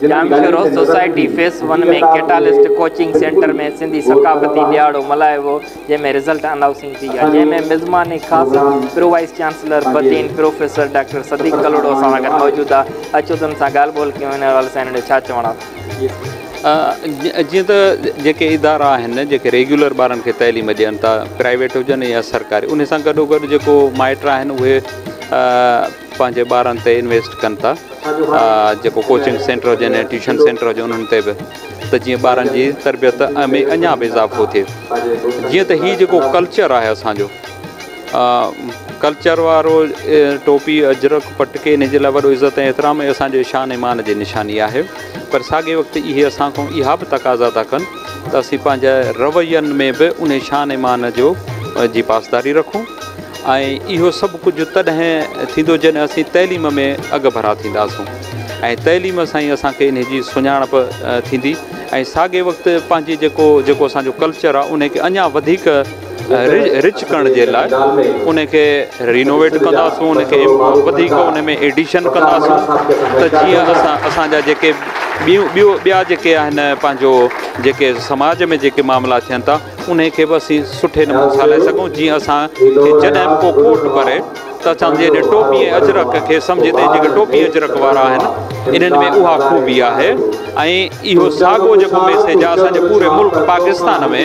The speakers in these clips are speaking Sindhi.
جام Shoro society phase one ۾ catalyst coaching centre ۾ Sindhi ثقافتي ڏهاڙو ملهايو ويو جنهن ۾ رزلٽ انائوسنگ ٿي ۽ جنهن ۾ مزماني خاص pro vice chancellor Badin professor doctor Siddique Kalhoro اسان سان گڏ موجود ها اچو تن سان ڳالهه ٻولهه ڪيون ان حوالي سان هنن جو ڇا چوڻ آهي. جيئن ته جيڪي ادارا آهن جيڪي ريگيولر ٻارن کي تعليم ڏين ٿا پرائيويٽ هجن يا سرڪاري ان سان گڏو گڏ جيڪو مائٽ آهن اهي پنهنجي ٻارن تي انويسٽ ڪن ٿا جيڪو ڪوچنگ سينٽر هجن يا ٽيوشن سينٽر هجن انهن تي به ته جيئن ٻارن جي تربيت ۾ اڃا به اضافو ٿئي جيئن ته هي جيڪو ڪلچر آهي اسانجو ڪلچر وارو ٽوپي اجرڪ پٽڪي ان جي لاء وڏو عزت ۽ احترام ۽ اسانجو شان ايمان جي نشاني آهي پر ساڳي وقت اهي اسان کان اها به تقاضا ٿا ڪن ته اسين پنهنجا روين ۾ به ان شان ايمان جو جي پاسداري رکون ۽ اهو سڀ ڪجهه تڏهن ٿيندو جڏهن اسين تعليم ۾ اڳڀرا ٿينداسون ۽ تعليم سان ئي اسان کي انهي جي سڃاڻپ ٿيندي ۽ ساڳئي وقت پنهنجي جيڪو جيڪو اسان جو ڪلچر آ انهي کي اڃان وڌيڪ رچ ڪرڻ جي لاء انهي کي رينوويٽ ڪنداسون انهي کي وڌيڪ انهي ۾ ايڊيشن ڪنداسون ته جيئن اسان اسان جا جيڪي ٻيون ٻيو ٻيا جيڪي آهن پنهنجو جيڪي سماج ۾ جيڪي معاملا ٿين ٿا انهيء کي به اسين سٺي نموني سان لائي سگهون، جيئن اسان کي جڏهن به ڪو ڪوٽ ڀري ته اسان جي هن ٽوپي ۽ اجرڪ کي سمجهي ته هي جيڪي ٽوپي ۽ اجرڪ وارا آهن، انهن ۾ اها خوبي آهي ۽ اهو ساڳو جيڪو ميسيج آهي اسان جي پوري ملڪ پاڪستان ۾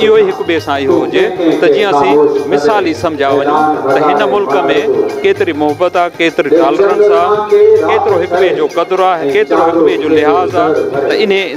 اهو ئي هڪ ٻئي سان اهو هجي ته جيئن اسين مثال ئي سمجهيا وڃون ته هن ملڪ ۾ ڪيتري محبت آهي، ڪيتري ٽالرنس آهي، ڪيترو هڪ ٻئي جو قدر آهي، ڪيترو هڪ ٻئي جو لحاظ آهي ته انهيء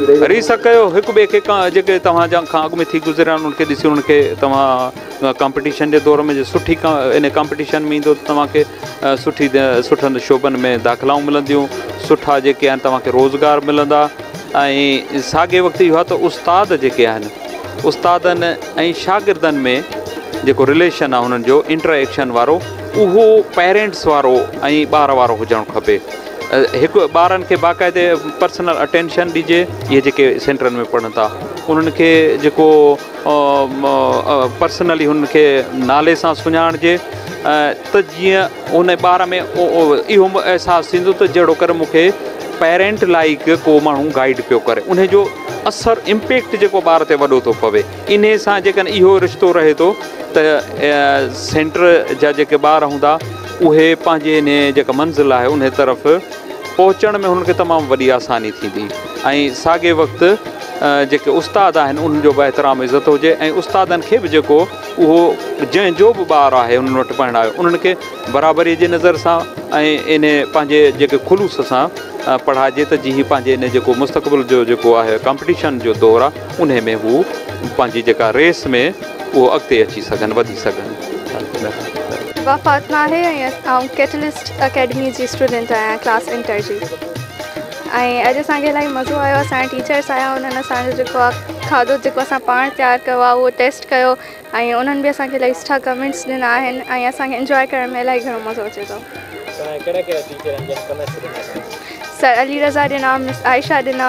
ريس ها ڪيو هڪ ٻئي کي جيڪي توهان جا کان اڳ ۾ ٿي گذريا انهن کي ڏسي انهن کي توهان ڪامپيٽيشن جي دور ۾ جي سٺي ان ڪامپيٽيشن ۾ ايندو ته توهان کي سٺي سٺن شعبن ۾ داخلائون ملنديون سٺا جيڪي آهن توهان کي روزگار ملندا ۽ ساڳي وقت اهو ته استاد جيڪي آهن استادن ۽ شاگردن ۾ جيڪو رليشن آهي انهن جو انٽريڪشن وارو اهو پيرنٽس وارو ۽ ٻار وارو هجڻ کپي هڪ ٻارن کي باقاعدي پرسنل اٽينشن ڏجي اهي جيڪي سينٽرن ۾ پڙهن ٿا انهن کي جيڪو پرسنلي هن کي نالي سان سڃاڻجي ته جيئن ان ٻار ۾ اهو احساس ٿيندو ته جهڙو ڪر مونکي پيرنٽ لائق ڪو ماڻهو گائيڊ پيو ڪري ان جو اثر امپيڪٽ جيڪو ٻار تي وڏو ٿو پوي انهي سان جيڪڏهن اهو رشتو رهي ٿو ته سينٽر جا جيڪي ٻار هوندا اهي پنهنجي انهي جيڪا منزل آهي انهي طرف پهچڻ ۾ هنن کي تمام وڏي آساني ٿيندي ۽ ساڳي وقت جيڪي استاد آهن انهن جو به احترام عزت هجي ۽ استادن کي به جيڪو اهو جنهن جو به ٻار آهي انهن وٽ پڙهڻ آيو انهن کي برابري جي نظر سان ۽ انهي پنهنجي جيڪي خلوص سان پڙهائجي ته جي هي پنهنجي انهي جيڪو مستقبل جو جيڪو آهي ڪمپٽيشن جو دور آهي انهي ۾ هو پنهنجي جيڪا ريس ۾ اهو اڳتي اچي سگهن وڌي سگهن. وفا فاطمه آهي ۽ آئون ڪيٽلسٽ اڪيڊمي جي اسٽوڊنٽ آهيان ڪلاس انٽر جي ۽ اڄ اسان کي الاهي مزو آيو اسان جا ٽيچرس آيا انهن اسان جو جيڪو آهي کاڌو جيڪو اسان پاڻ تيار ڪيو آهي اهو ٽيسٽ ڪيو ۽ انهن به اسان کي الاهي سٺا ڪمينٽس ڏنا آهن ۽ اسان کي انجوائي ڪرڻ ۾ الاهي گهڻو مزو اچي ٿو سر علي رضا ڏنا مس عائشه ڏنا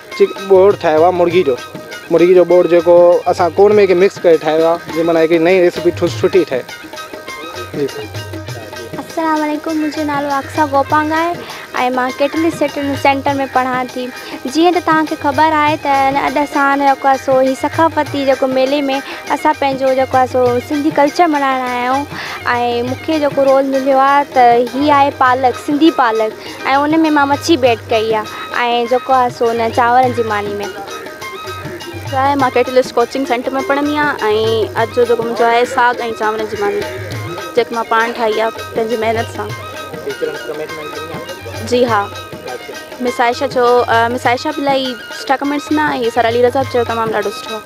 چڪ ٻوڙ ٺاهيو آهي مرغي جو مرغي جو ٻوڙ جيڪو اسان ڪوڙ ۾ مڪس ڪري ٺاهيو آهي جي معنيٰ هڪڙي نئين ريسيپي ٺوس سٺي ٺهي جي سر. السلام عليڪم منهنجو نالو اقصيٰ گوپانگ آهي ۽ مان ڪيٽلي سٽن سينٽر ۾ پڙهان ٿي جيئن ته توهان کي خبر آهي ته ان اڄ اسان جيڪو آهي سو هي ثقافتي جيڪو ميلي ۾ اسان پنهنجو جيڪو آهي سو سنڌي ڪلچر ملهائڻ آيا آهيون ۽ مونکي جيڪو رول مليو آهي ته هي آهي پالڪ سنڌي پالڪ ۽ ان ۾ مان مڇي بي ايڊ ڪئي آ ۽ جيڪو آ سو ان چانورن جي ماني ۾ ڇا آهي مان ڪيٽلسٽ ڪوچنگ سينٽر ۾ پڙهندي آهيان ۽ اڄ جو جيڪو منهنجو آهي ساڳ ۽ چانورن جي ماني جيڪي مان پاڻ ٺاهي آ پنهنجي محنت سان جي ها مس عائشه جو مس عائشه به الاهي سٺا ڪمينٽس ڏنا ۽ سر علي رضا به چيو تمام ڏاڍو سٺو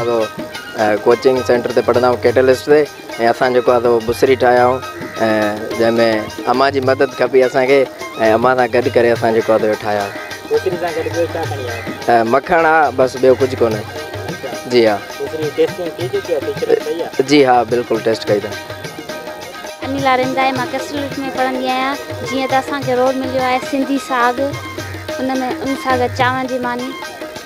اهو ڪوچنگ سينٽر تي پڙهندا آهيون ڪيٽلسٽ تي ۽ اسان جيڪو آهي بصري ٺاهيا آهيون جنهن ۾ امان جي مدد کپي اسانکي ۽ امان سان گڏ ڪري اسان جيڪو آهي ٺاهيا آهيون مکڻ آهي بس ٻيو ڪجهه ڪونه جي ها جي ها بلڪل ٽيسٽ ڪئي اٿن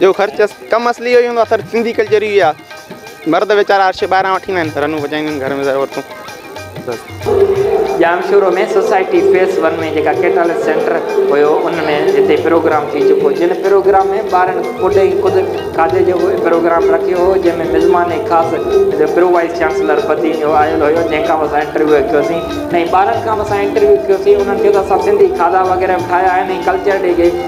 جو خرچ ڪم اصلي اهو ئي هوندو آهي خرچ سنڌي ڪلچر ئي اهو آهي مرد ويچارا عرش ٻاهران وٺي نا آهن رنون وڄائيندا آهن گهر ۾ ضرور عورتون بس ڄامشورو ۾ سوسائٽي فيس ون ۾ جيڪا ڪيٽالس سينٽر هيو ان ۾ هتي پروگرام ٿي چڪو جن پروگرام ۾ ٻارن خود ۽ خود کاڌي جو پروگرام رکيو هو جنهن ۾ مزمان ۽ خاص پرو وائيس چانسلر بدين جو آيل هيو جنهن کان به اسان انٽرويو ڪيوسين ۽ ٻارن کان به اسان انٽرويو ڪيوسين انهن کي ته اسان سنڌي کاڌا وغيره به ٺاهيا آهن ۽ ڪلچر ڊي جي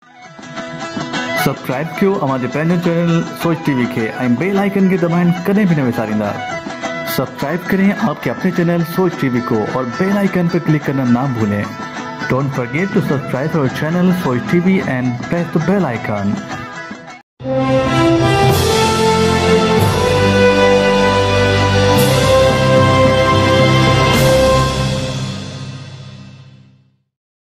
سبسڪرائب ڪيو اوهان جي پنهنجو چينل سوچ ٽي وي کي ۽ بيل آئيڪن کي دٻائڻ ڪڏهن به نه وساريندا سبسڪرائب ڪرين آپ ڪي اپني چينل سوچ ٽي وي ڪو اور بيل آئيڪن پي ڪلڪ ڪرنا نا ڀولين ڊونٽ فرگيٽ ٽو سبسڪرائب اور channel Soch TV and press the bell icon.